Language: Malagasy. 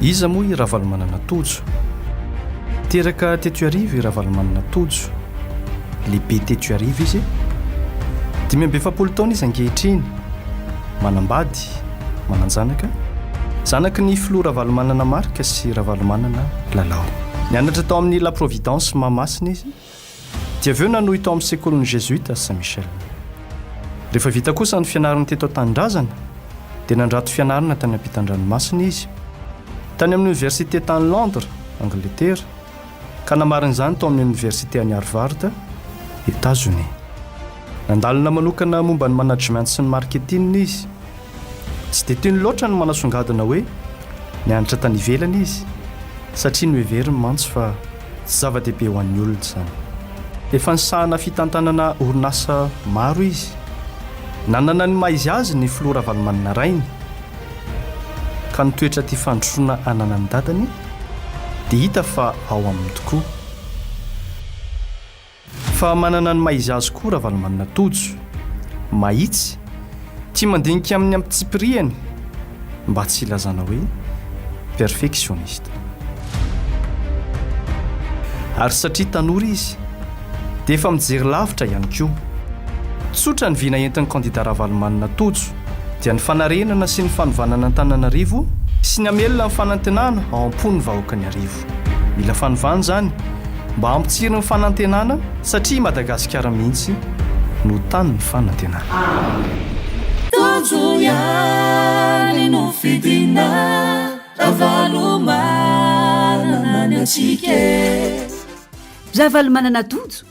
Iza moa i Ravalomanana Tojo? Teraka teto Iarivo i Ravalomanana Tojo. Lehibe teto Iarivo izy. Dimy amby efapolo taona izy ankehitriny. Manambady, manan-janaka. Zanaky ny filoha Ravalomanana Marc sy Ravalomanana Lalao. Nianatra tao amin'ny La Providence Mahamasina izy. Dia avy eo nanohy tao amin'ny sekolin'ny Jesuita Saint Michel. Rehefa vita kosa ny fianarany teto an-tanindrazana, dia nandrato fianarana tany ampitan-dranomasina izy, tany amin'ny oniversite tany Londres, Angletera, ka namarana izany tao amin'ny oniversite any Harvard, Etazonia. Nandalina manokana momba ny management sy ny marketing izy. Tsy dia tiany loatra ny manasongadina hoe nianatra tany ivelany izy, satria noheveriny mantsy fa tsy zava-dehibe ho an'ny olona izany. Efa nisahana fitantanana orinasa maro izy. Nanana ny maha-izy azy ny filoha Ravalomanana rainy, ka ny toetra tia fandrosoana ananan'ny dadany dia hita fa ao aminy tokoa. Fa manana ny maha-izazy koa Ravalomanana Tojo. Mahitsy, tia mandinika amin'ny ampitsipirihany mba tsy hilazana hoe perfectionniste. Ary satria tanora izy, dia efa mijery lavitra ihany koa. Tsotra ny vina entin'ny kandida Ravalomanana Tojo, dia ny fanarenana sy ny fanovana an'Antananarivo sy ny hamelona ny fanantenana ao am-pon'ny vahoakan'Iarivo. Mila fanovana izany mba hampitsiry ny fanantenana satria i Madagasikara mihitsy no tanin'ny fanantenana. Tojo ihany no fidina Ravalomanana ny antsika e. Ravalomanana Tojo